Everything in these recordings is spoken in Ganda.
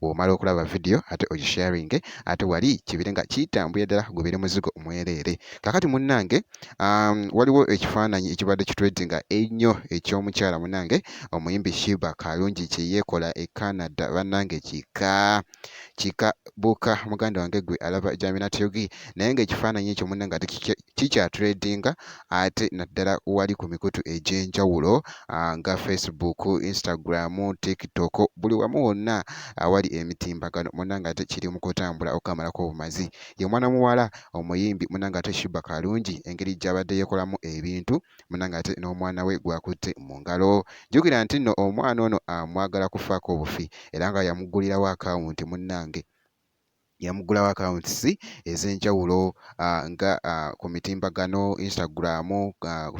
Womala okulaba video ate ogisharinge ate wali kibire nga kitambuye ddala gubire muzigo mwereere. Kakati munnange um, waliwo ekifaananyi ekibadde kitredinga ennyo ekyomukyala munnange omuyimbi Shiba Kalungi kyeyekola e Canada bannange kika kika buka muganda wange gwe alaba Jaminat Yogi naye nga ekifaananyi ekyo munnange ate kikyatuleedinga ate naddala wali ku mikutu egy'enjawulo ah, nga Facebook, Instagram, TikTok buli wamu wonna awali emitimbagano munange ate kiri mu kutambula okukamalako obumazi ye mwana muwala omuyimbi munange ate Shiba Kalungi engeri gy'abadde yeekolamu ebintu munange ate n'omwana we gwakutte mu ngalo jjukira nti nno omwana ono amwagala kufaako obufi era nga yamugulirawo akawunti munnange yamuggulawo accounts ez'enjawulo nga ku mitimbagano Instagram,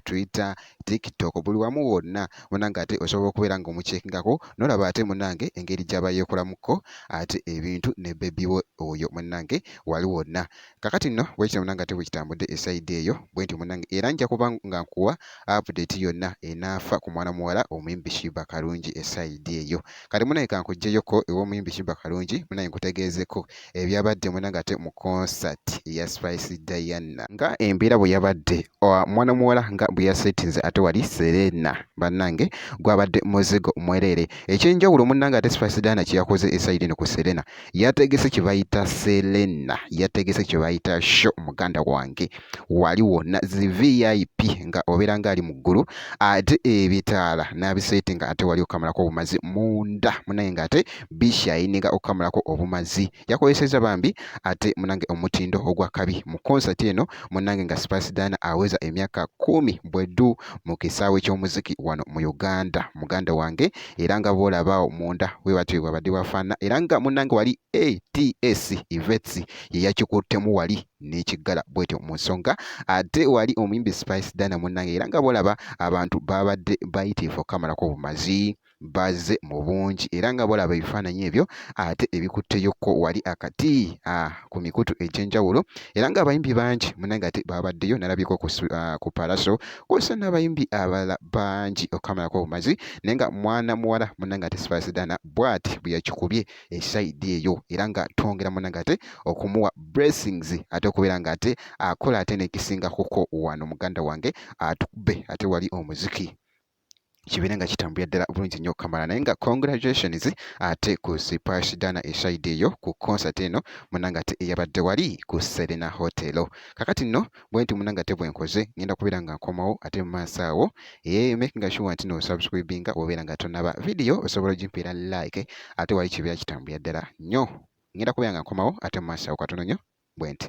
Twitter, TikTok buli wamu wonna munange ate osobola okubeera nga omukyekingako nolaba ate munange engeri gyaba yeekolamuko ate ebintu ne bebi we oyo munange wali wonna kakati nno bwekityo munange ate bwekitambudde esaidi eyo bwentyo munange era nja kuba nga nkuwa update yonna enaafa ku mwana muwala omuyimbi Shiba Karungi esaidi eyo kati munaye kankujjeyoko ew'omuyimbi Sheebah Kalungi munaye nkutegeezeko ebyabadde munange ate mu concert ya Spice Diana nga embeera bwe yabadde mwana muwala nga bwe yasetinze ate wali Serena bannange gwabadde muzigo mwereere ekyenjawulo munange ate Spice Diana kye yakoze esayidi eno ku Serena yategese kye bayita Selena, yategese kye bayita show muganda wange, wali wonna zi VIP nga obeera ng'ali mu ggulu, ate ebitaala n'abiseeti nga ate wali okamalako obumazi munda munaye nga ate bishayininga okukamulako obumazi, yakozesezza bambi ate munange omutindo ogwa kabi mu concert eno munange nga Sipaasidana aweza emyaka kumi bweddu mu kisaawe ky'omuziki wano mu Uganda, muganda wange era nga bwolaba awo munda bwe batyo bwe bwabadde bwafaanana era nga munnange wali ats evets ye yakikuttemu wali n'ekiggala bwetyo mu nsonga ate wali omuyimbi spice dana munnange era nga bwolaba abantu baabadde bayitiifu okukamalako obumazi bazze mu bungi era nga bolaba ebifaananyi ebyo ate ebikutteyokko wali akati ah, ku mikutu egy'enjawulo era ng'abayimbi bangi munange ate baabaddeyo nalabiko ku, uh, ku palaso kw'ossa n'abayimbi abalala bangi okukamalako obumazi naye nga mwana muwala munange ate sibasidana bwati bwe yakikubye esaidi eyo era nga twongera munange ate okumuwa blessings ate okubeera nga ate akola ate nekisinga kuko wano muganda wange atukube ate wali omuziki kibeere nga kitambulira ddala bulungi nnyo okamala naye nga congratulations ate ku sipash dana eshahidi eyo ku concert eno munanga ate eyabadde wali ku serena hotel kakati nno bwe nti munanga ate bwenkoze ngenda kubeera nga nkomawo ate mu maaso awo ee eh, making sure nti nosubscribinga obeera nga tonaba vidiyo osobola ogimpeera like ate wali kibeera kitambulira ddala nnyo ngenda kubeera nga nkomawo ate mu maaso awo katono nnyo bwe nti